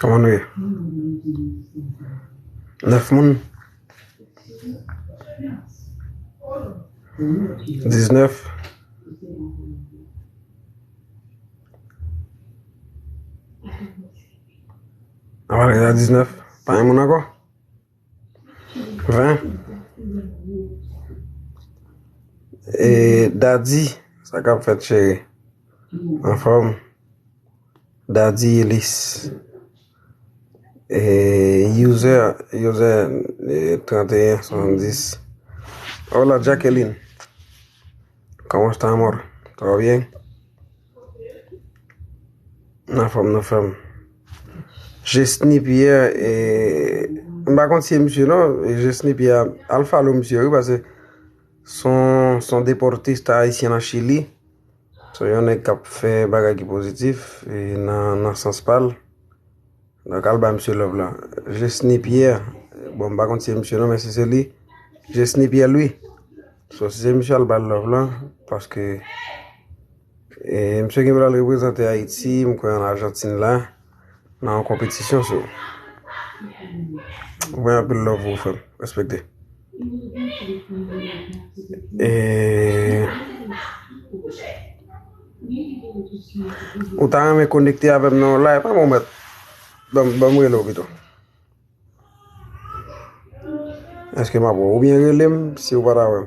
Koman nou ye? Nèf moun? Diznèf? Awa rega diznèf? Pa yon moun anko? Hein Eee Daddy sa kap fèt chere? Anfòm? Daddy Elis Eee User User 3170 Hola Jacqueline Comment estamos? Tout va bien? Nan fòm nan fèm. Jesni piyè e. M pa konn si e misye nan. Jesni piyè. Al falo misye wi pase. Son son deportist a ayisyen nan chili. Son yon nèk kap fè bagay ki pozitif. E nan nan sans pal. Nou t al bay misye love lan. Jesny Pierre Bon m pa konn si se misye non men si se li Jesny Pierre Louis So si se misye al ba l love lan Paske E misye gen pou l al reprezante Ayiti m kwè an Argentine la Nan yon konpetisyon so Mwen anpil love pou ou frè m Respekte. Ou ta renmen konekte avèm nan yon live pa mwen mèt? Banm rele w pito. Eske m ap wè w? Ou byen rele m si ou pa ta wè m.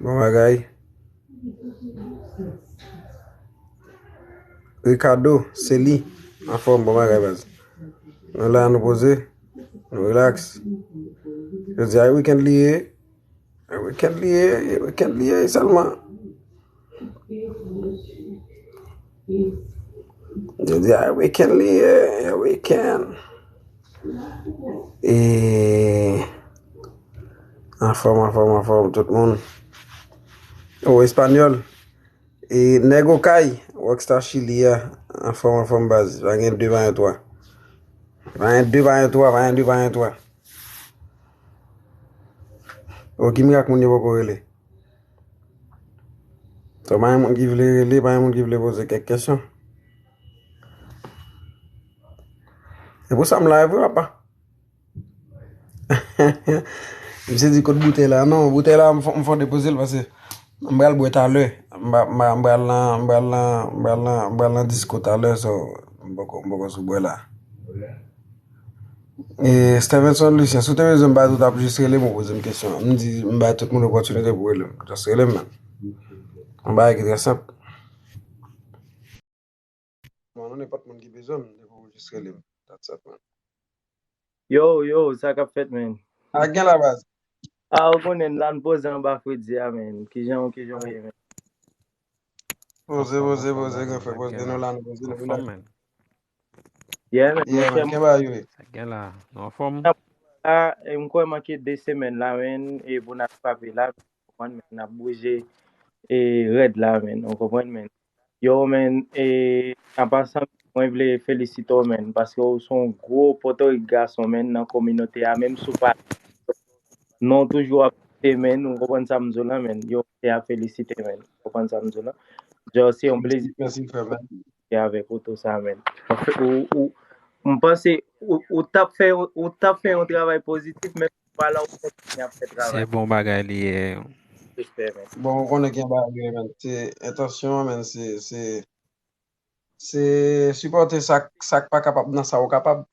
Bon bagay. Ricardo, se li. An fòm, bon bagay baz. Nou la nou poze. Nou relax. Yo di a weekend li ye. A weekend li ye. A weekend li ye. Salman. Jodi a e weekend li ye, e weekend. E anfòm anfòm anfòm tout moun. O espanyol. E nèg okay, rockstar chili a, anfòm anfòm baz, pa gen 2 pa gen 3. Pa gen 2 pa gen 3, pa gen 2 pa gen 3. O ki mirak moun yo poko rele. So pa gen moun ki vle rele, pa gen moun ki vle poze kèk kesyon. Se pou sa m live wi apa. M se di kot boutèy la. Non, boutèy la m fon depoze l pase. M bal bwe talè. M bal nan, m bal nan, m bal nan, m bal nan disko talè so. M boko, m boko sou bwe la. Eee Stevenson Lucien, si w te bezwen m ba tout ap jis rele m ou poze m kesyon. M di m bay tout moun opòtinite pou rele m. Jis rele m. M bay ki trè senp. Mwen mwen nenpòt moun ki bezwen m, depi w jis rele m. Dat sa pwen. Yo, yo, sa kap fèt menn? Sa gen la baz? A ou konnen m la, m poze anba fredi a menn. Kijan w, kijan w ye menn? Poze, poze, poze gen fre, poze nou la, nou poze nou la. Anfòm men. Yeah men, yeah men, gen bagay wi. Sa gen la, nou anfòm? A, m kwè manke 2 semèn la men, e pou n al frape la, konprann men, n ap bouje e rèd la men, ou konprann men. Yo men, e, an pasan, mwen vle felisite w men, paske w son gwo Pòtorik gason men nan kominote a, menm si w pa, non w toujou ap lite men, ou konprann sa m di w la men. Yo Se a felisite men. Ou konprann sa m di w la? Djòl se yon plezi pou m pale avèk ou tou sa men. M panse ou t ap fè yon travay pozitif men ou pa la ou kontinye ap fè travay. Se bon bagay li ye. Respè men. Bon ou konnen gen bagay men. Se entansyon an men se. Se sipòte sa k pa kapab nan sa ou kapab.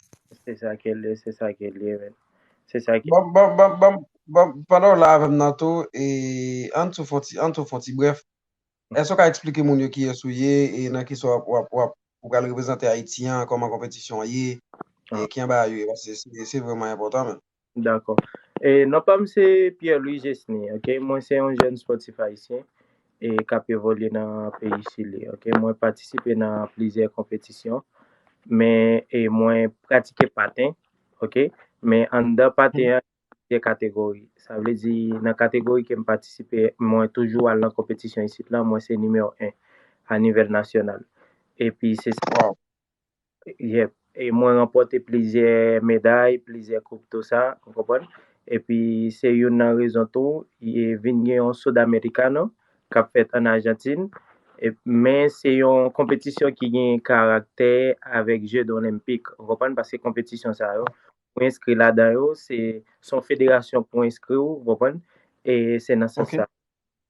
Se sa ke l ye, se sa ke l ye men. Se sa ke. Bon, bon, bon, bon, bon, pandan ou la avè m nan tou, e, ann tou fon ti, ann tou fon ti brèf. Èske ou ka esplike moun yo kiyès ou ye e nan ki sa w ap, w ap, w ap, ou pral reprezante Ayiti an, kòman konpetisyon an ye, e ki anba a yo ye? Paske se vreman enpòtan menm. Dakò. E non pa m se Pierre Louis Gesny ok. Mwen se yon jèn spòtif ayisyen e k ap evolye nan peyi Chili ok. Mwen patisipe nan plizyè konpetisyon men e mwen pratike paten ok. Men anndan paten an gen kategori. Sa vle di nan kategori ke m patisipe mwen toujou al nan konpetisyon isit lan mwen se nimewo 1 a nivèl nasyonal. Epi se sa. Waww. Yep, e mwen ranpòte plizyè meday, plizyè koup tou sa, ou konprann? Epi se youn nan rezon tou, e vin gen yon Sudamericano k ap fèt an Ajantin, e men se yon konpetisyon ki gen karaktè avèk je dolenmpik, ou konprann? Paske konpetisyon sa yo, pou enskri ladan yo, se son federasyon pou enskri ou, ou konprann? E se nan sans sa.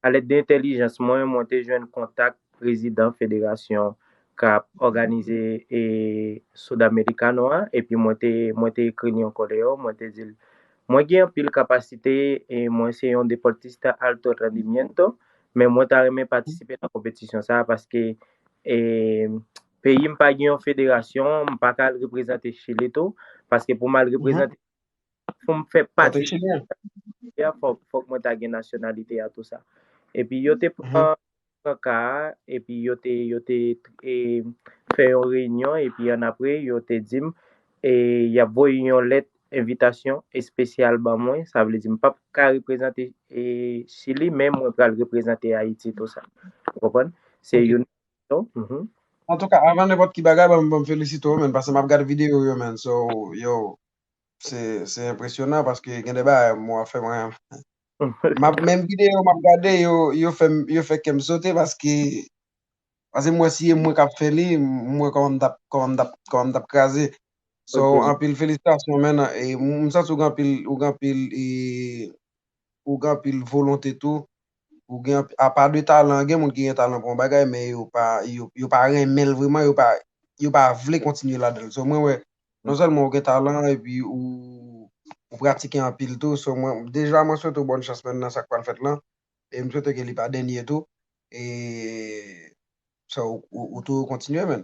A lèd de entèlijans mwen, mwen te jwenn kontak prezidan federasyon k ap òganize Sudamericano a, epi mwen te mwen te ekri l yon koleyo, mwen te di l, Mwen gen anpil kapasite, e mwen se yon deportista alto rendimiento, men mwen ta renmen patisipe nan konpetisyon sa a paske e peyi m pa gen yon federasyon, m pa ka al reprezante Chili tou, paske pou m al reprezante pou m fè pati de kominote a, fòk mwen ta gen nasyonalite a, tou sa. Epi yo te pran ka a, epi yo te fè yon reyinyon, epi annapre yo te di m y ap voye yon lèt envitasyon espesyal ban mwen, sa vle di m pa p ka reprezante Chili, men mwen pral reprezante Ayiti, tou sa. Ou konprann? Se youn nan rezon. Antouka, avan nenpòt ki bagay, ban m felisite w menn, paske m ap gad videyo w yo menn, so, yo, Se enpresyonan paske gen de bagay mwen wè fè mwen. Map menm video map gade yo yo fè yo fè kèm sote paske paske mwen si e mwen kap fè li mwen kòman m tap kòman m tap kòman m tap kraze. So anpil felisitasyon men e m santi ou gen anpil ou gen anpil e ou gen anpil volonte tou, ou gen anpil, a pa de talan, gen moun ki gen talan pou yon bagay men yo pa, yo pa renmen l vreman, yo pa, yo pa vle kontinye ladan l. So mwen wè non sèlman ou gen talan epi ou, ou pratike anpil tou, so mwen, deja mwen swete w bòn chans menm nan sa k pral fèt lan e m swete ke li pa dènye tou e so ou toujou kontinye menn.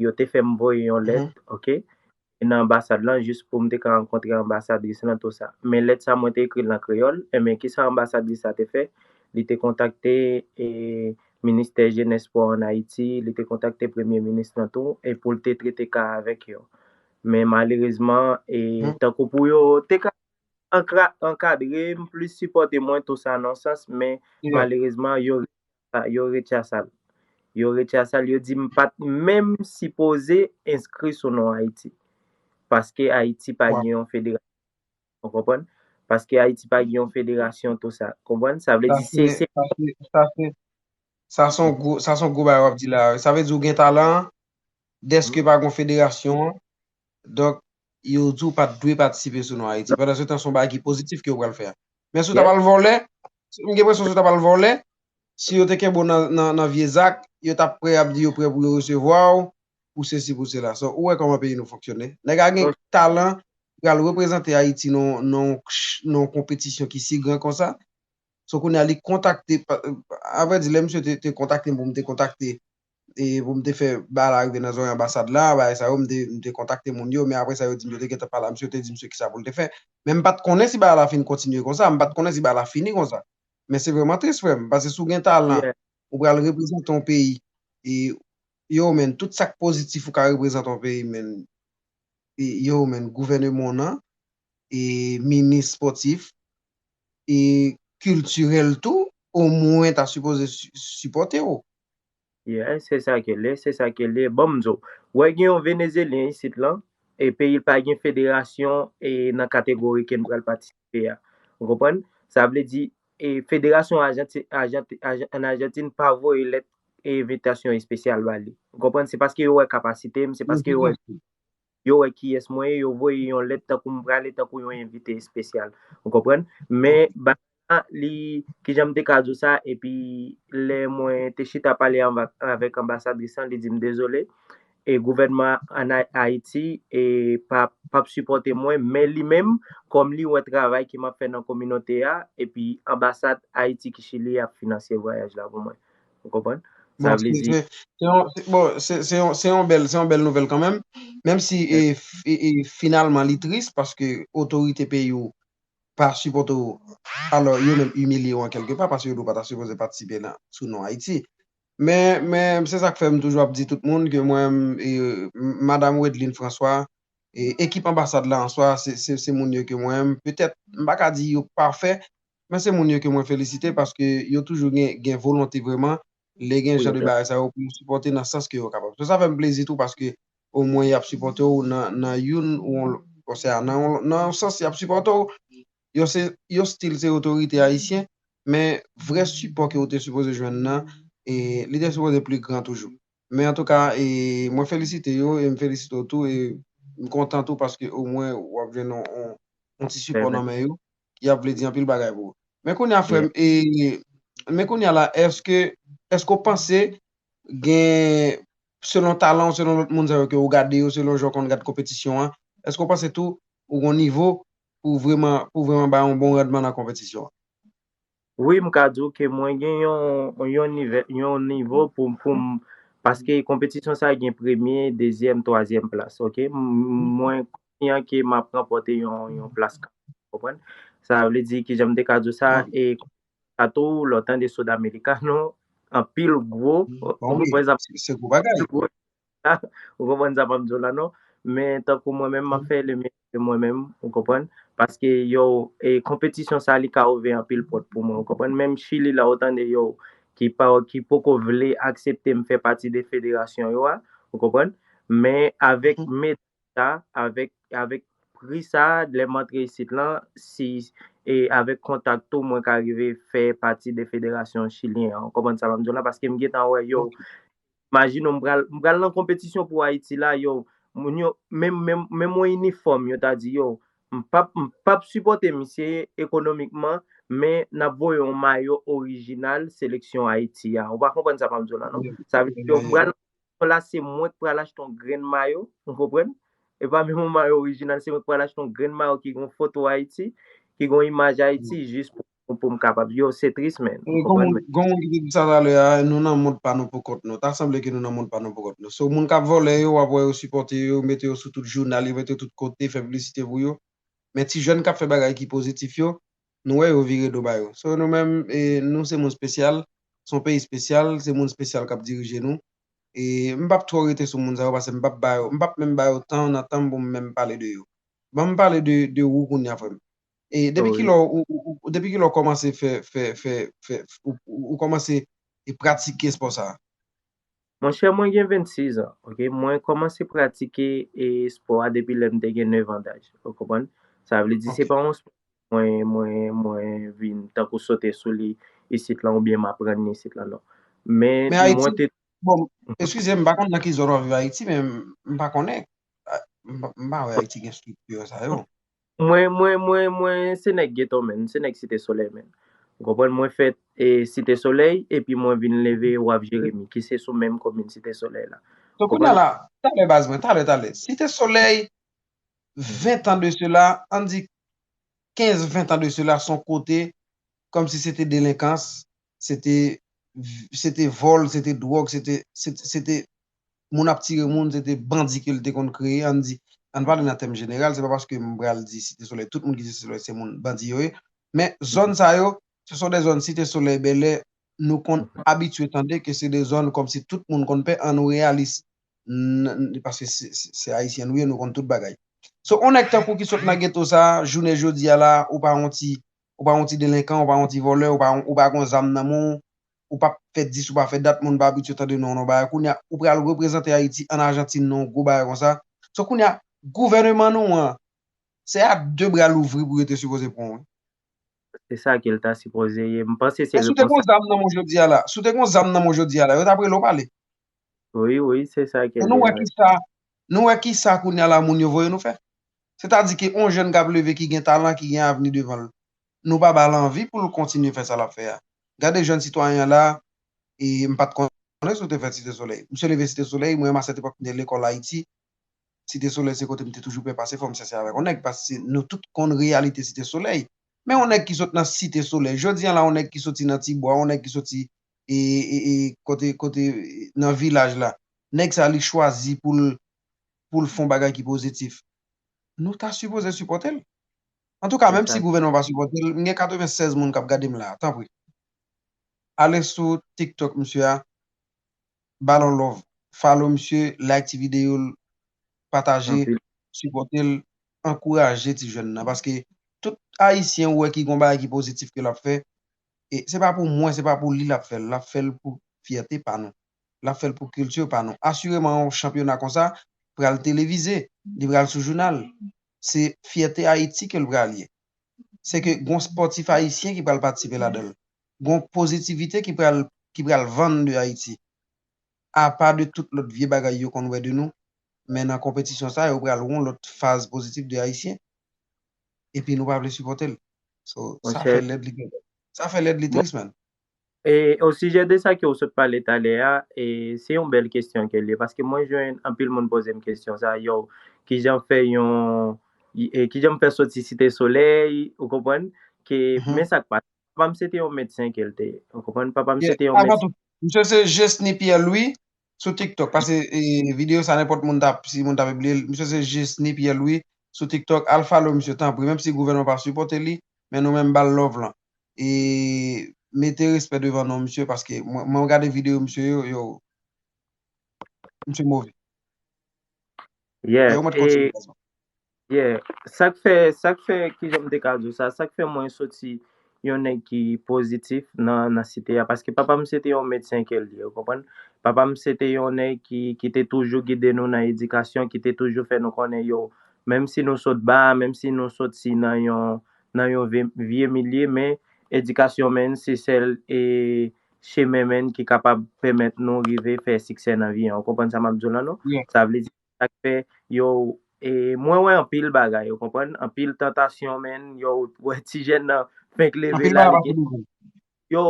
yo te fè m voye yon lèt, ok, nan anbasad lan jis pou m te ka rankontre anbasadris lan tou sa. Men lèt sa mwen te ekri l an kreyòl, enben ki sa anbasadris la te fè, li te kontakte ministè jenès espò an Ayiti, li te kontakte premye minis lan tou e pou l te trete ka a avèk yo. Men malerezman e tankou pou yo te ka ankadre m, plis sipòte mwen tou sa nan sans men malerezman yo Ah yo rechasal. Yo rechasal yo di m pat menm sipoze enskri sou non Ayiti. Paske Ayiti pa gen yon federasyon. Ou konprann? Paske Ayiti pa gen yon federasyon tou sa. Konprann? Sa vle di se se. Sa se sa se sa son gwo sa son gwo bagay wap di la. Sa vle di ou gen talan deske pa gen yon federasyon. Donk yo di w pat dwe patisipe sou non Ayiti. Pandan se tan se yon bagay ki pozitif ke yo pral fè a. Men si w ta pral vòlè, m gen enpresyon si w ta pral vòlè, si yo te kenbe w nan vye zak, yo tap prè ap di yo prè pou yo resevwa w, pou sesi pou sela. So, ou wè kòman peyi nou fonksyone. Nèg a gen talan pou al reprezante Ayiti nan yon konpetisyon ki si gran konsa. So kounye a li kontakte, a vrè di lè misye te kontakte m pou m te kontakte e pou m te fè bagay la rive nan zòrèy anbasad la, bagay sa yo, m te m te kontakte moun yo, men aprè sa yo di m yo te gentan pale ak misye, yo te di misye kisa pou l te fè, men m pa t konnen si bagay la fin kontinye konsa, m pa t konnen si bagay la fini konsa. Men se vrèman tris frè m, paske si w gen talan, ou pral reprezante yon peyi, e yow menn tout sa k pozitif ou ka reprezante yon peyi menn, e yow menn gouvèneman w nan, e minis spòtif, e kiltirèl tou omwen ta sipoze sipòte w, Yes se sa kele se sa kele bon mnzo wè gen yon venezelyen isit lan e peyil pa gen federasyon e nan kategori kem pral patisipe a ou konprann sa vle di e federasyon ajanti ajanti an ajantin pa voye lèt e evitasyon espesyal bali ou konprann se paske yo wè kapasitem se paske yo wè yo wè kiyès mwen ye, yo voye yon lèt tankou m prale tankou yon envite espesyal. Ou konprann? Men, Ok. bagay la, li, ki jan m te ka di w sa, epi lè mwen te chita pale anva, avèk anbasadris lan, li di m dezole, e gouvènman an Ay, Ayiti, e pa, pa p sipòte mwen, men li menm, kòm li wè travay ke m ap fè nan kominote a, epi anbasad Ayiti ki Chili a ap finansye vwayaj la pou mwen. Ou konprann? Sa vle di. Bon, se yon bèl nouvèl kanmenm. Menm si finalman li tris paske otorite peyi ou pa sipòte ou. Alò, yo menm imilye ou an kèlke pa paske yo di ou pa ta sipoze patisipe nan sou non Ayiti. Men, se sa k fè m toujou ap di tout moun ke mwen menm Madam Wedlin Franswa, ekip anbasad la an swa se moun yo ke mwen menm petèt m pa ka di yo pafè Men se moun yo ke mwen felisite paske yo toujou gen volonte vreman lè gen jan de bagay sa yo pou yo sipòte nan sans ke yo kapab. So sa fè m plezi tou paske omwen y ap sipòte w nan youn osea nan yon sans y ap sipòte w. Yo se yo stil se otorite ayisyen men vrè sipò ke ou te sipoze jwenn nan li te sipoze pli gran toujou. Men antouka mwen felisite yo e m felisite w tou e m kontan tou paske omwen w ap jwenn yon ti sipò nan men yo. yap vle di anpil bagay pou ou. Men kounye a frèm e men kounye a la eske eske ou panse gen selon talan ou selon lòt moun sa yo ke ou gade yo selon jan ou konn gad konpetisyon an eske ou panse tou ou gon nivo pou vreman pou vreman bay yon bon randman nan konpetisyon an? Wi m ka di w ke mwen gen yon nivo pou m paske konpetisyon sa gen premye, dezyèm, twazyèm plas ok. Mwen konfyan ke m ap ranpòte yon plas kanmèm ou konprann. Sa vle di kijan m te ka di w sa e sa tou lè w tande Sodamericano anpil gwo, anpil gwo Ou konprann sa pam diw la non. Men tankou mwen menm map fè le meyè de mwen menm ou konprann. Paske yow e konpetisyon sa li ka ouve anpil pòt pou mwen ou konprann. Menm chili la ou tande yow ki pa ki poko vle akseptem fè pati de federasyon yo a ou konprann. Men avèk me sa avèk avèk pri sa lèm antre isit lan si e avèk kontak tou mwen ka rive fè pati de federasyon chilyen an ou konprann sa pam diw la. Paskem gentan wè yow Majino m pral m pral nan konpetisyon pou Ayiti la yow moun yo menm menm menm yon inifòm yo ta di yow m pap m pap sipòte misye ekonomikman men nap voye yon mayo orijinal seleksyon Ayiti a ou pa konprann sa map diw la non sa vle di yo pral nan konpetisyon la se mwen k pral achte yon grenn mayo ou konprann e pa menm yon mayo orijinal se mwen k pral achte yon grenn mayo ki gen yon foto Ayiti ki gen yon imaj Ayiti jis pou pou m kapab yo se tris men. Gon moun ki te di sa talè a nou nan mond pa nou poukont nou ta sanble ke nou nan mond pa nou poukont nou so moun kap vòlè yo wap wè yo sipòte yo mete yo sou tout jounal yo mete yo tout kote fè piblisite pou yo men ti jèn kap fè bagay ki pozitif yo nou wè yo vire do ba yo so nou menm nou se moun spesyal son peyi spesyal se moun spesyal kap dirije nou e m pap twò rete sou moun sa yo pase m pap ba yo m pap menm ba yo tan nan tan m pou m menm pale de yo banm pale de ou kounya frè m E depi ki lò ou, depi ki lò ou kòmanse fè, fè, fè, fè, ou kòmanse pratike espò sa a? Monchè, mwen gen 26 an, ok. Mwen kòmanse pratike espò a depi lè m te gen 9 an daj. Ou konprann? Sa vle di se pa yon espò mwen, mwen, mwen vin tankou sote sou li isit lan oubyen m aprann li isit lan, non. Men, mwen te. Bon, eskize m, m pa konn nan ki zòn w ap viv Ayiti men, m pa konnen, m pa wè Ayiti gen estrikti sa yo. Mwen mwen mwen mwen se nèg geto menn, m se nèg site solèy menn. Ou konprann mwen fèt e site solèy epi mwen vin leve waf jeremi ki se sou menm komin site solèy la. Ou Donk kounye a konprann? la, talè baz mwen, talè talè. Site solèy 20 tan de sela, ann di 15 20 tan de sela son kote kòmsi se te delenkans, se te se te vòl, se te dwòg, se te se te moun ap tire moun, se te bandi ke l te konn kreye an n di, an n pale nan tèm jeneral, se pa paske m pral di Site Solèy tout moun ki Site Solèy se moun bandi yo ye, men zòn sa yo se son de zòn Site Solèy, Bèlè nou konn abitye tande ke se de zòn kòm si tout moun konn pè an nou reyalis n paske se Ayisyen nou ye nou konn tout bagay. So on nèg tankou w ki sot nan geto sa a jounen jodi a la a ou pa on ti Ou pa yon ti delenkan, ou pa yon ti vòlè, ou pa yon, ou pa gon zam nan men w, ou pap fè dis ou pa fè dat moun pa abitye tande non w nan yon bagay. Kounye a, ou pral reprezante Ayiti an Ajantin nan yon gwo bagay konsa. So kounye a, gouvèneman nou an, se a de bra louvri pou yo te sipoze pran w wi. Se sa ke l ta sipoze ye. M panse se repons sa. Si w te gon zam nan men w jodi a la, si w te gon zam nan men w jodi a la, yo tap rele w pale. Wi, wi, se sa ke l ye. E nou wè kisa, nou wè kisa kounye a la moun yo voye nou fè? Se ta di ke on jèn kap leve ki gen talan, ki gen avni devan l, nou pa ba l anvi pou l kontinye fè sa lap fè a. Gade jèn sitwayen an la, e m pat konnen si w te fèt Site Solèy. Misye leve Site Solèy, mwen a sèt epòk m te lekòl Ayiti, Site Solèy se kote m te toujou pè pase fò m sèse avèk on nèg paske nou tout konn reyalite Site Solèy. Men on nèg ki sot nan Site Solèy jodi an la, on nèg ki soti nan ti bwa, on nèg ki soti e, e, e kote, kote nan vilaj la, nèg sa li chwazi pou l pou l fon bagay ki pozitif, nou ta sipoze sipòte l. Antouka menm si gouvènman pa sipòte l, m gen 96 moun k ap gade m la, tanpri ale sou tiktok misye a, ba l yon love, follow misye, like ti videyo l, pataje, sipòte l, ankouraje ti jèn nan paske tout ayisyen ou wè ki gen yon bagay ki pozitif ke l ap fè, se pa pou mwen, se pa pou li l ap fè l, l ap fè l pou fyète pa nou. l ap fè l pou kilti pa nou. Asireman yon chanpyona konsa pral televize, li pral sou jounal. Se fyète Ayiti ke l pral ye. Se ke gen yon spòtif ayisyen ki pral patisipe ladan l. Gen yon pozitivite ki pral ki pral vann de Ayiti. Apa de tout lòt vye bagay yo konn wè de nou, men nan konpetisyon sa yo pral wè yon lòt faz pozitif de Ayisyen. Epi nou pa vle sipòte l. So, sa fè lèd li trist man. E o sijè de sa ke ou sot pale talè a, e se yon bèl kesyon ke l ye, paske mwen jwenn anpil moun poze m kesyon sa, yow, ki jan fè yon, e ki jan m fè soti Site Solèy, ou konprann, ke men sa k pase. Papa m se te yon medsen ke l te ye, ou konprann, papa m se te yon medsen. Msye se Jesny Pierre Louis, Sou tiktok pase video sa nenpòt moun tap si moun ta pibliye l misye se Jesny Pierre Louis sou tiktok al follow misye tanpri menm si gouvènman pa sipòte li men nou menm bal love lan e mete respè devan non misye paske mwen gade video misye yo yo misye move. Yes, e, sak fè, sak fè ki jom de kazou sa, sak fè mwen soti yon nèk ki pozitif nan site ya, paske papa m se te yon medsen ke li, ou konprann, papa m se te yon nèk ki te toujou gide nou nan edikasyon, ki te toujou fè nou konnen yo, menm si nou sot ba, menm si nou soti nan yon, nan yon vye milye, men, edikasyon men, se sèl, e, chemen menn ki kapab pèmèt nou rive fè siksè nan vi an. Ou konprann sa m ap di w lan non? Byen. Sa vle di, sa k fè yo, e mwen wè anpil bagay, ou konprann, anpil tantasyon menn, yo, ou wè tijèn nan fenk leve Anpil la, bagay li pa gen, toujou. yo,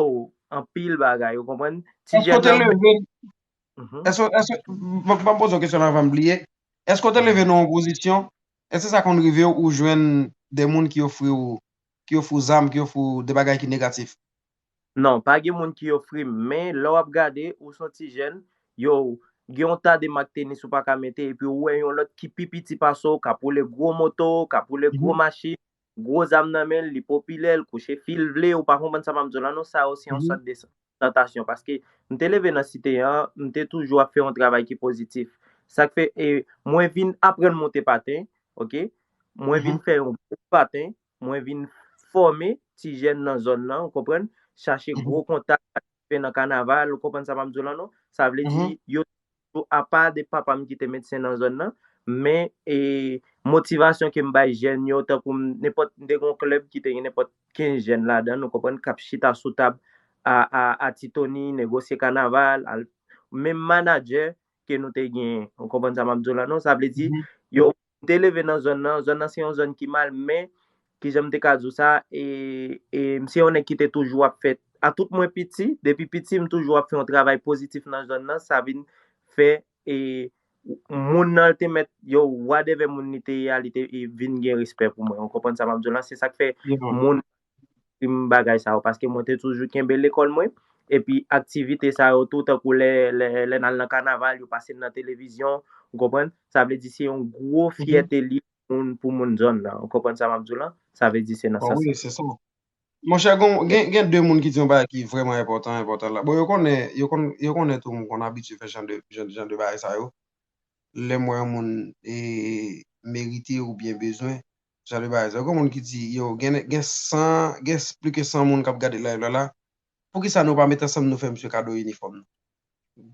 anpil bagay, ou konprann, Èske ou tijèn te nan menm, leve, mhm, èske, èske, ban m poze yon kesyon la avan m bliye, èske ou te leve mhm. nan yon pozisyon, èske sa konn rive w ou jwenn de moun ki ofri w, ki ofri w zam, ki ofri w de bagay ki negatif? Non, pa gen moun ki ofri m, men lè w ap gade, ou s on ti jèn, yow, gen yon ta de mak tenis ou pa ka mete epi ou wè yon lòt ki pi piti pase w k ap woule gwo moto, k ap woule gwo machin, gwo zam nan men l, li popilè, l kouche fi l vle, ou pa konprann sa m ap di w la non, sa yo se yon sòt de tantasyon paske m te leve nan site an, m te toujou ap fè yon travay ki pozitif. Sa k fè e mwen vin aprann monte paten, ok, mwen vin fè yon gwo paten, Mwen vin fòme ti jèn nan zòn nan, ou konprann, chache gwo kontak, patisipe nan kanaval, ou konprann sa m ap di w la non? Sa vle di, yo te toujou, apa de papa m ki te medsen nan zòn nan, men e motivasyon ke m bay jèn yo, tankou m, nenpòt, m te gen yon klèb ki te gen nenpòt 15 jèn ladan l, ou konprann, k ap chita sou tab a, a, a titoni, negosye kanaval, al, menm manadjè ke nou te genyen, ou konprann sa m ap di w la non? Sa vle di, yo M te leve nan zòn nan, zòn nan se yon zòn ki mal men ki jan m te ka di w sa e m se yon nèg ki te toujou ap fè a tout mwen piti, depi piti m toujou ap fè yon travay pozitif nan zòn nan sa vin fè e moun nan te mèt yo wadèvè moun li te ye a li te vin gen respè pou mwen ou konprann sa m ap di w la se sa k fè moun dim bagay sa yo paske mwen te toujou kenbe lekòl mwen epi aktivite sa yo tou tankou lè lè nal nan kanaval yo pase n nan televizyon ou konprann sa vle di se yon gwo fyète li pou moun zòn nan ou konprann sa map diw lan sa vle di se nan sans sa. Monchè gon gen 2 moun ki di yon bagay ki vrèman enpòtan enpòtan la bon yo konnen yo konn yo konnen tou mwen konn abitye fè jan de jan de bagay sa yo lèm wè yon moun e merite oubyen bezwen Salut bae zè gon moun ki di yo gen gen 100 gen pli ke 100 moun kap gade live la la poukisa nou pa met ansanm nou fè misye kado inifòm nan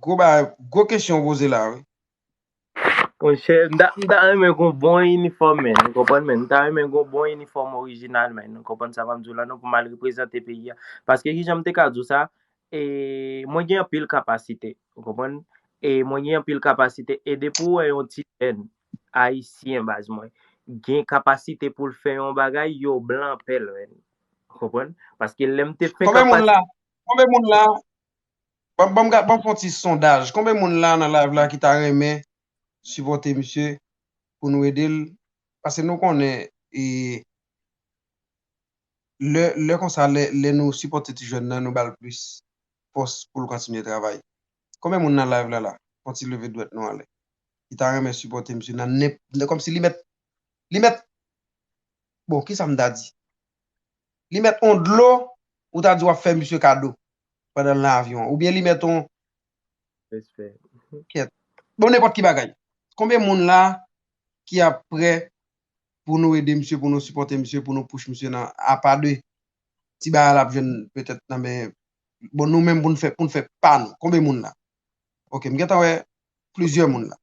gwo bae gwo kesyon ou poze la wi. Monchè m ta m ta renmen gon bon inifòm men nou konprann men m ta renmen gon bon inifòm orijinal men nou konprann sa m ap di w la non pou m al reprezante peyi a paske kijan m te ka di w sa E mwen gen anpil kapasite, ou konprann? E mwen gen anpil kapasite. E depi ou wè yon ti jèn Ayisyen baz mwen gen kapasite pou l fè yon bagay, yo blan pè l menn. Ou konprann? Paske lè m te fè Konbe moun la, kapasite. konbe moun la, banm banm ga banm fon ti sondaj, konbe moun la nan live la ki ta renmen sipòte misye pou nou ede l, pase nou konnen e. Lè konsa, lè nou sipòte ti jèn nan, nou ba l plis fòs pou l kontinye travay. Konbyen moun nan live la la, fon ti leve dwèt nou anlè, ki ta renmen sipòte misye nan nenpòt, kòmsi li mèt, li mèt, bon, kisa m ta di? Li mèt on dlo, ou ta di w ap fè misye kado, pandan l nan avyon an, oubyen li mèt on, kèt, bon nenpòt ki bagay. Konbyen moun la ki ap prè pou nou ede misye pou nou sipòte misye pou nou push misye nan apa de ti bagay lap jwenn petèt nan men bon nou menm poun fè poun fè pa nou konbe moun la ok m gentan wè plizyè moun la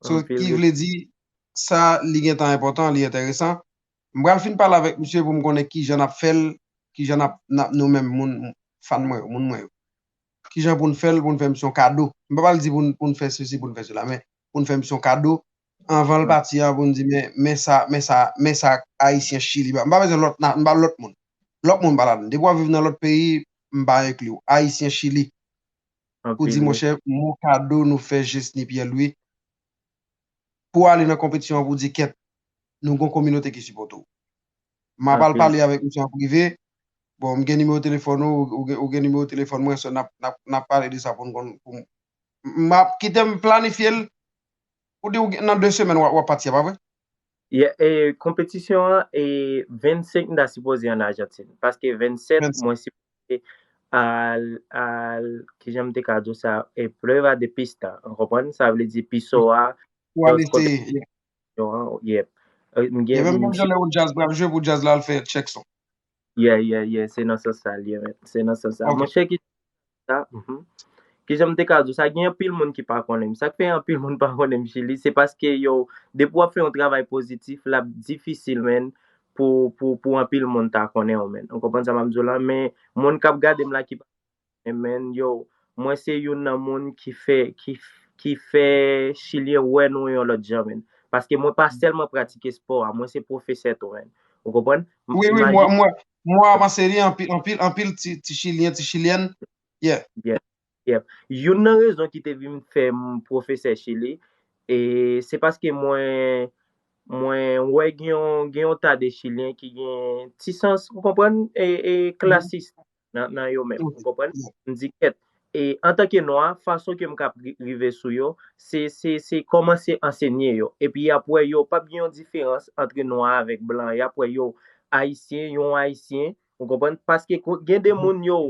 so ki vle di sa li gentan enpòtan li enteresan m pral fin pale avèk misye pou m konnen kijan nap fèl kijan nap nap nou menm moun fan mwen yo moun mwen yo kijan poun fèl poun fè misye yon kado m pa pral di poun poun fè sesi poun fè sela men pou n fè misye yon kado anvan l pati an pou n di men men sa men sa men sa ayisyen chili ba m pa bezwen lòt na m pa lòt moun lòt moun m pa ladan depi w ap viv nan lòt peyi m pa enkli w ayisyen chili pou di monchè mon kado nou fè jesny pyè lwi pou ale nan konpetisyon an pou di kèt nou gon kominote ki sipòte w m ap al pale avèk misye an prive bon m gen nimewo telefòn ou ou gen nimewo telefòn mwen sò n ap n ap pale de sa pou n konn pou m Map kitem planifye l. Ou di ou nan 2 semèn wap pati a pa vre? Yeah e konpetisyon an e 25 m ta sipoze an Argentine paske 27 mwen sipoze al al kijan m te ka di w sa e prueba de pista ou konprann sa vle di piso a Pou al eseye yeah yeah m gen m gen Menm jan lè yon jazz pral jwe pou jazz la al fè chèk son. Yeah yeah yeah se nan sans sa l ye menn. Se nan sans sa. Ok. Monchè ki sa, mhm. Ki jan m te ka di w sa, gen anpil moun ki pa konnen m. Sa k fè anpil moun pa konnen m Chili, se paske yo depi w ap fè yon travay pozitif, l ap difisil menn pou pou pou anpil moun ta konnen w menn. Ou konprann sa m ap di w la? Men moun k ap gade m la ki pa Amen yo mwen se youn nan moun ki fè ki fè chilyen wè nou yon lòt jan menn paske mwen pa sèlman pratike spò a mwen se pwofesè tou menn ou konprann wi wi mwen mwen mwen avanse li anpil anpil anpil ti chilyen ti chilyèn yeah yeah yeah youn nan rezon ki te vin fè m pwofesè chili e se paske mwen mwen wè gen yon gen yon ta de chilyen ki gen ti sans ou konprann e e klasis nan yo menm. Ou konprann? M di kèt. E antanke nwa, fason ke m kab rive sou yo, se, se, se kòmanse ansenye yo. Epi y ap wè yo pap gen yon diferans antre nwa avèk blan. Y ap wè yo Ayisyen, yon Ayisyen. Ou konprann? Paske gen de moun yo,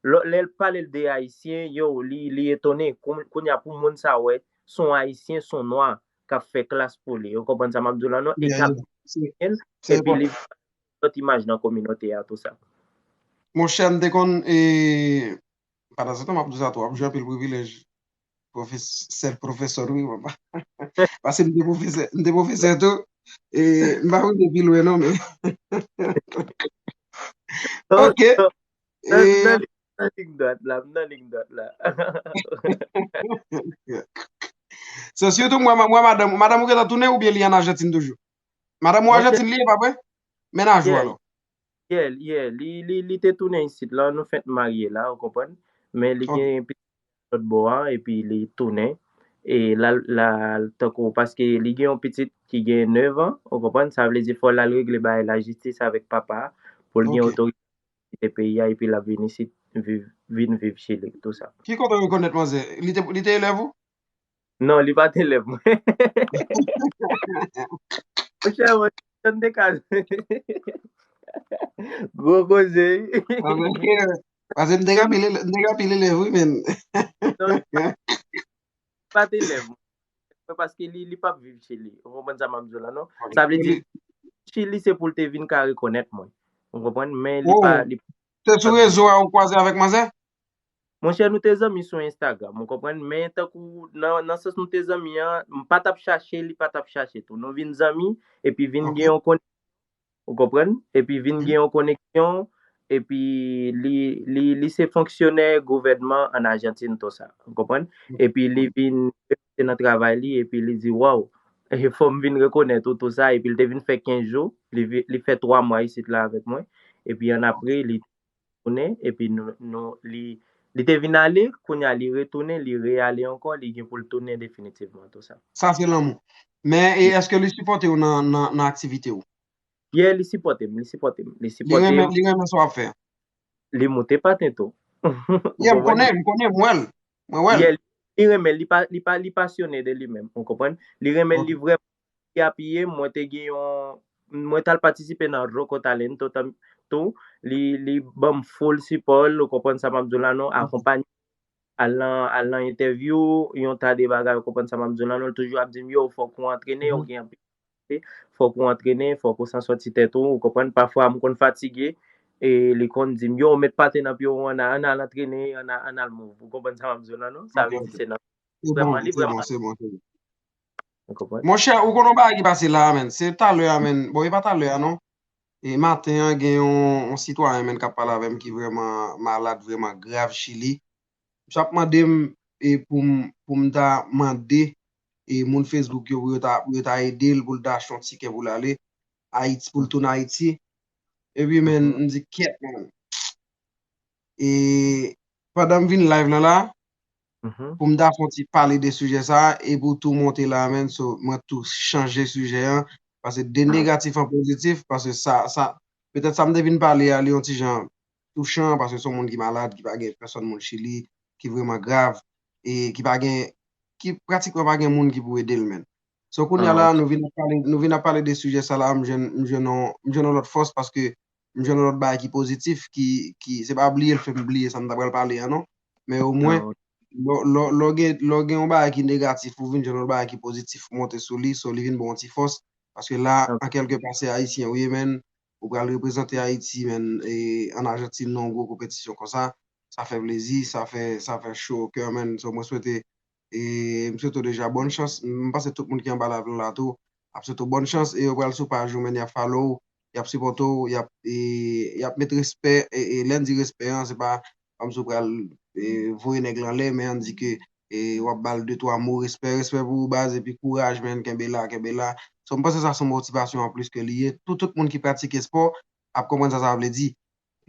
lò, lè l pale l de Ayisyen, yo, li, li etone. Kon, kounye a pou moun sa wè, s on Ayisyen, s on nwa k ap fè klas pou li. Ou konprann sa m ap di w la non? E k ap, epi li. lòt imaj nan kominote a tou sa. Monchè m te konn e pa ta santan m ap di w sa tou wap jwi anpil privilèj pwofes sèl pwofesè wi wap ba paske m te pwofesè m te pwofesè tou e m pa rive pi lwen non men ok e M nan lig dwat la, m nan lig dwat la. So sitou mwen madanm ou, madanm ou gentan tounen oubyen li an Argentine toujou? Madam ou Argentine li ye pa vre? Menaj ou alò? Yeah, yeah. Li te tounen isit la, nou fenk marye la, ou konprann? Men li gen yon pitit lòt bò a, epi li tounen. E lal tankou, paske li gen yon pitit ki gen 9 an, ou konprann? Sa vle di fò lal regle bagay la jistis avèk papa a, pou l gen otorite pou kite peyi a, epi lap vin isit, vin viv Chili, tout sa. Ki kote ou rekonèt manzè? Li te elèv ou? Non, li pa t elèv mwen. Monchè, mwen te janm te ka jwe. Gwo koze wi. Pase m te gen anpil elèv wi men. Non, li pa t elèv mwen. Se paske li pa t viv Chili. Ou konprann sa m ap di w la non. Sa vle di, Chili se pou l te vin ka rekonèt mwen. Ou konprann? Men li pa. Se sou rezo a ou kwaze avèk manzè? Monchè nou te zanmi sou Instagram ou konprann men tankou nan nan sans nou te zanmi an m pa tap chache li pa tap chache tou nou vin zanmi epi vin gen yon koneksyon ou konprann epi vin gen yon koneksyon epi li li li se fonksyonè gouvènman an Ajantin to sa ou konprann epi li vin se nan travay li epi li di waw e fòm vin rekonèt ou tou sa epi li te vin fè 15 jou li fè 3 mwa isit la avèk mwen epi an apre li retounen epi nou li te vin ale kounye a li retounen li re ale ankò li gen poul tounen definitivman tou sa. Sa se lanmou. Men e eske li sipòtew nan aktivitew? Yeah li sipòtem li sipòtem li sipòtem. Li renmen sa wap fè? Li moute paten tou. Yeah m konnen m konnen m wèl mwen wèl. Yeah li renmen li pa li pa li pasyone de li menm ou konprann li renmen li vrèman Li apiye m, mwen te gen yon, mwen tal patisipe nan Roco Talento tanm tou, li li banm full sipò l, ou konprann sa map di w la non, akonpanye m al nan al nan entèvyou, yon ta de bagay ou konprann sa map di w la non, li toujou ap di m yo fòk ou antrene, ou gen anpil kalite, fòk ou antrene, fòk ou san soti tèt ou, ou konprann, pafwa m konn fatige, e li konn di m yo met pate nan pye w an a, ann al antrene, ann al move, ou konprann sa map di w la non, sa vle di se nan, se bon, se bon, se bon. Monchè, ou konn yon bagay ki pase la a menn, se talè a menn, bon e pa talè a non, e maten an gen yon sitwayen menn k ap pale avè m ki vrèman malad, vrèman grav chili, msye ap mande m e pou m ta mande e moun Facebook yo pou yo ta ede l pou l ta achte yon tikè pou l ale Ayiti, pou l tounen Ayiti, epi menn m di kèt menn. E pandan m vin live lan la pou m ta fon ti pale de sijè sa e pou tou monte la menn so mwen tou chanje sijè an pase de negatif an pozitif pase sa sa petèt sa m te vin pale a li yon ti jan touchan pase son moun ki malad ki pa gen pèsòn moun chili ki vreman grav e ki pa gen ki pratikman pa gen moun ki pou ede l menn. So kounya la nou vin ap pale nou vin ap pale de sijè sa la m jwenn m jwenn yon m jwenn yon lòt fòs paske M jwenn yon lòt bagay ki pozitif ki, ki, se pa bliye l fè m bliye sa m ta pral pale an non. Men omwen, lò, lò, lò gen, lò gen yon bagay ki negatif ou vin jwenn yon lòt bagay ki pozitif monte sou li, so li vin ba w yon ti fòs. Paske la, an kèlke pa se Ayisyen ou ye menn, ou pral reprezante Ayiti menn e ann Ajantin nan yon gwo konpetisyon konsa, sa fè plezi, sa fè, sa fè cho o kè menn. So mwen swete e m swete w deja bòn chans, m panse tout moun ki anba live lan la tou ap swete w bòn chans e yo pral sou paj ou menn yap follow w, yap sipòte w, yap e yap met respè e lè n di respè an se pa kòmsi w pral e voye nèg lan anlè men an di ke e wap ba l de twa mo respè, respè pou ou baz epi kouraj menn kenbe la kenbe la so m panse sa son motivasyon anplis ke li ye pou tout moun ki pratike espò ap konprann sa sa vle di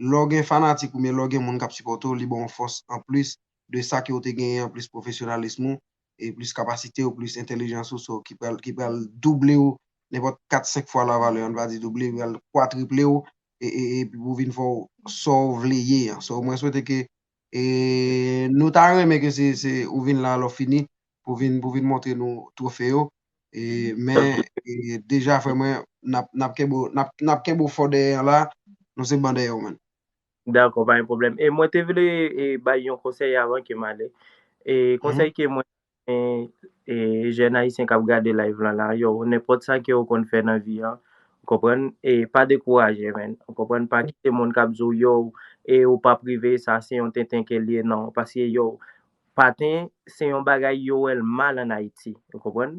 Lè w gen fanatik oubyen lè w gen moun k ap sipòte w li ba w fòs anplis de sa ke w te genyen an plis pwofesyonalism ou e plis kapasite w plis entelijans ou so ki pral ki pral double w nenpòt 4 5 fwa la valè an n va di double pral kwatriple w e e epi pou vin fè w sa w vle ye an so mwen swete ke E nou ta renmen ke se ou vin la lò fini pou vin pou vin montre nou trofe yo e men deja frè mwen nap nap kenbe w nap nap kenbe w fò dèyè an la nou se ban dèyè w man. Dakò pa gen pwoblèm e mwen te vle e bay yon konsèy avan ke m ale e konsèy ke mwen Gen jèn ayisyen kap gade live lan la yow nenpòt sa kew konn fè nan vi an ou konprann e pa dekouraje menn ou konprann pa kite moun kap diw yow e ou pap rive sa se yon tenten kel ye nan paske yow paten se yon bagay yo wèl mal an ayiti ou konprann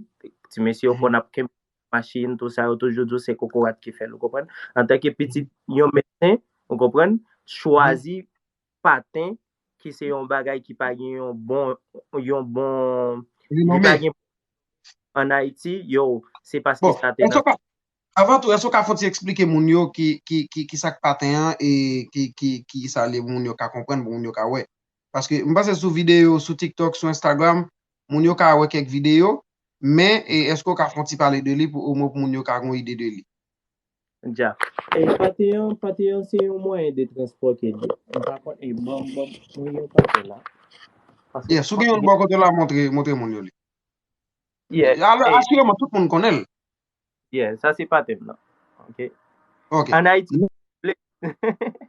ti mesye yo konn ap kenbe machin tout sa yo toujou diw se kokorat ki fèl ou konprann antanke pitit yon medsen ou konprann chwazi paten ki se yon bagay ki pa gen yon bon, yon bon, li pa gen an Haiti, yo, se paske sa te nan. Bon, eske w ka, avan tou, eske w ka fon ti eksplike moun yo ki, ki, ki, ki sak paten an e ki, ki, ki sa li moun yo ka konprann pou moun yo ka wè. Paske m panse sou videyo, sou TikTok, sou Instagram, moun yo ka wè kèk videyo, men e eske w ka fon ti pale de li pou omwen pou moun yo ka gon ide de li. Jack, E pate an, pate an se yon mwayen de transpò ke l ye. M pa konn, e ban m, ban m, mwen gen yon pate la. Paske Yes, ou gen yon l bò kote w la montre, montre moun yo li. Yes, A lè e asireman tout moun konnen l. Yes, sa se pate m nan. Ok. Ok. An Ayiti, Nou vle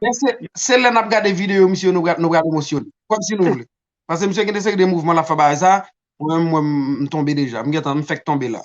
Men se, se lè n ap gade videyo misye yo nou pral, nou pral emosyone. Kòm si nou vle. Paske misye gen de seri de mouvman l ap fè bagay sa, mwen menm m wè m, m tonbe deja. M gentan, m fèk tonbe la.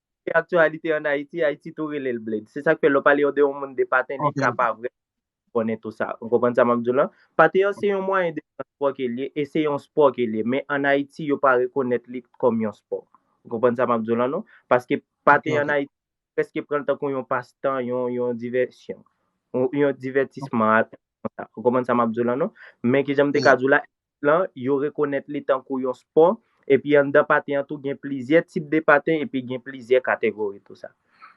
Koute aktyalite an Ayiti, Ayiti tou rele l bled. Se sa k fè lè w pale de yon moun de paten, li ka pa vrèman konnen tou sa. Ou konprann sa m ap di w la? Paten an se yon mwayen de transpò ke l ye e se yon spò ke l ye. Men an Ayiti, yo pa rekonèt li kòm yon spò. Ou konprann sa m ap di w la non? Paske paten an Ayiti, yo prèske pran l tankou yon pastan, yon divèsyon, yon divètisman. Ou konprann sa m ap di w la non? Men kijan m te ka di w la, lan, yo rekonèt li tankou yon spò, epi anndan paten an tou gen plizyè tip de paten epi gen plizyè kategori tou sa.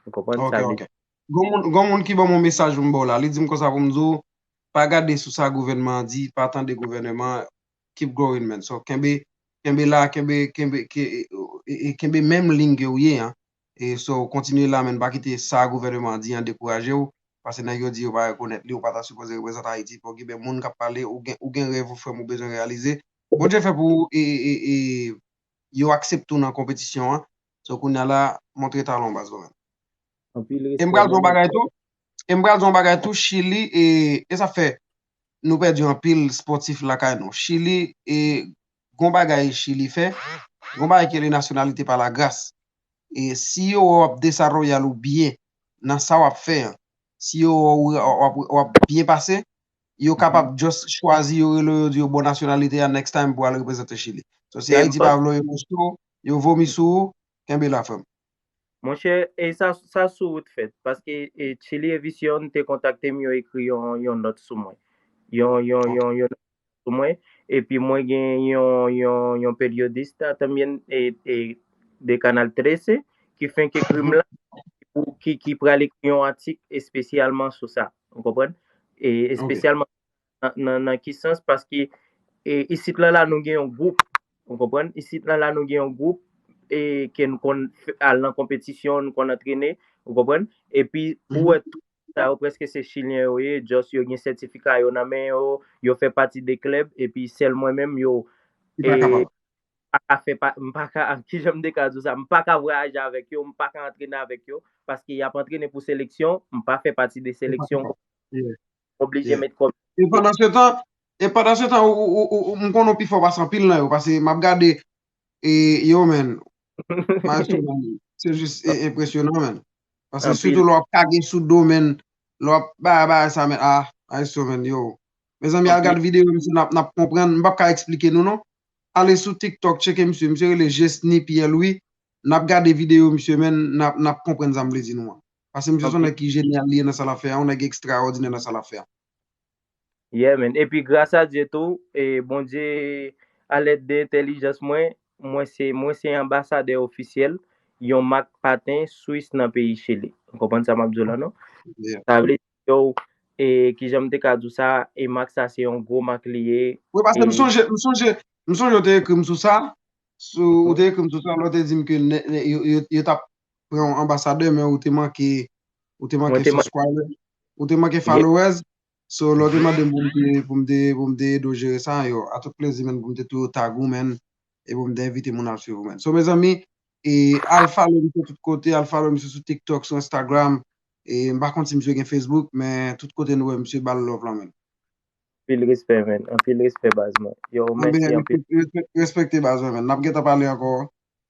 Ou konprann sa vle di? Gon moun ki banm yon mesaj poum baw la, li dim konsa poum diw pa gade sou sa gouvènman an di, pa tande gouvèneman an, keep going man, so kenbe kenbe la, kenbe kenbe kenbe menm ligne kew ye an, So kontinye la men pa kite sa gouvèneman an di an dekouraje w pase nèg yo di yo pa rekonèt li ou pa ta sipoze reprezante Ayiti fòk gen moun k ap pale ou gen rèv ou frè m ou bezwen reyalize Bondye fè pou ou e yo aksepte w nan konpetisyon an So kounya la montre talan w baz mwen menm E m pral di w yon bagay tou E m pral di w yon bagay tou Chili e sa fè nou pèdi anpil spòtif lakay nou Chili e gon bagay chili fè gon bagay ki rele nasyonalite pa la gras e si yo wè wap desaroyal ou byen nan sa wap fè an si yo wè ou wap byen pase yo kapab just chwazi yo rele yo di yo bon nasyonalite a next time pou al reprezante chili so si ayiti pa vle w yo vomi sou ou kenbe la frè m. Monchè e sa sa sou ou t fèt paske e chili evision te kontaktem yo ekri yon yon nòt sou mwen yon yon yon yon sou mwen epi mwen gen yon yon yon periodista tanbyen e e de canal 13 ki fenk ekrim la pou ki ki pral ekri yon atik espesyalman sou sa ou konprann e espesyalman Nan ki sans? Paske isit lan la nou gen yon gwoup, ou konprann? Isit lan la nou gen yon gwoup e ke nou konn al nan konpetisyon, nou konn antrene, ou konprann? E pi ou wè tout moun sa yo prèske se chilyen yo ye, just yo gen sètifika yo nan men yo, yo fè pati de klèb e pi sèl mwen menm yo pa ka fè pa, m pa ka, ki jan m te ka di w sa, m pa ka vwayaje avèk yo, m pa ka antrene avèk yo paske y ap antrene pou seleksyon, m pa fè pati de seleksyon. Oblije met kòb. E pandan se tan, e pandan se tan m konnen w pi fò pase anpil nan yo pase map gade e yo man Maestro Manny se jis enpresyonan man pase sitou lè wap kage sou do man lè wap bay bagay sa man ah Maestro man yo mezanmi al gad video yo misye nap konprann m pap ka esplike nou non ale sou tiktok tcheke misye misye rele Jesny Pierre Louis nap gade video yo misye man nap konprann sa m vle di nou an. Pase misye son nèg ki genial li ye nan sa lap fè a, yon nèg extraordinaire nan sa lap fè a. Yeah man, epi gras a Dye tou, e Bondye a lèd de entèlijans mwen, mwen se mwen se anbasadè ofisyèl yon mak paten swis nan peyi Chili. Ou konprann sa map di w la non? Yeah. Sa vle di yo e kijan m te ka di w sa, e mak sa se yon gwo mak li ye Wi pase m e sonje, m sonje, m sonje ou te ekri m sou sa, sou ou te ekri m sou sa lè ou te di m ke nè, nè yo, yo, yo tap pran w anbasadè men ou te manke ou te manke subscriber ou te manke followers so lè w te mande m pou m te pou m te pou m te ede w jere sa yo a tout plezi menn pou m te toujou tag ou menn e pou m te envite moun al swiv ou menn so mezanmi e al follow m sou tout kote al follow m sou sou tiktok sou instagram e m pa konn si misye gen facebook men tout kote nou wè misye ba l love lan menn. Anpil respè menn anpil respè baz mwen yow mèsi anpil. Respèkte baz mwen menn nap gentan pale ankò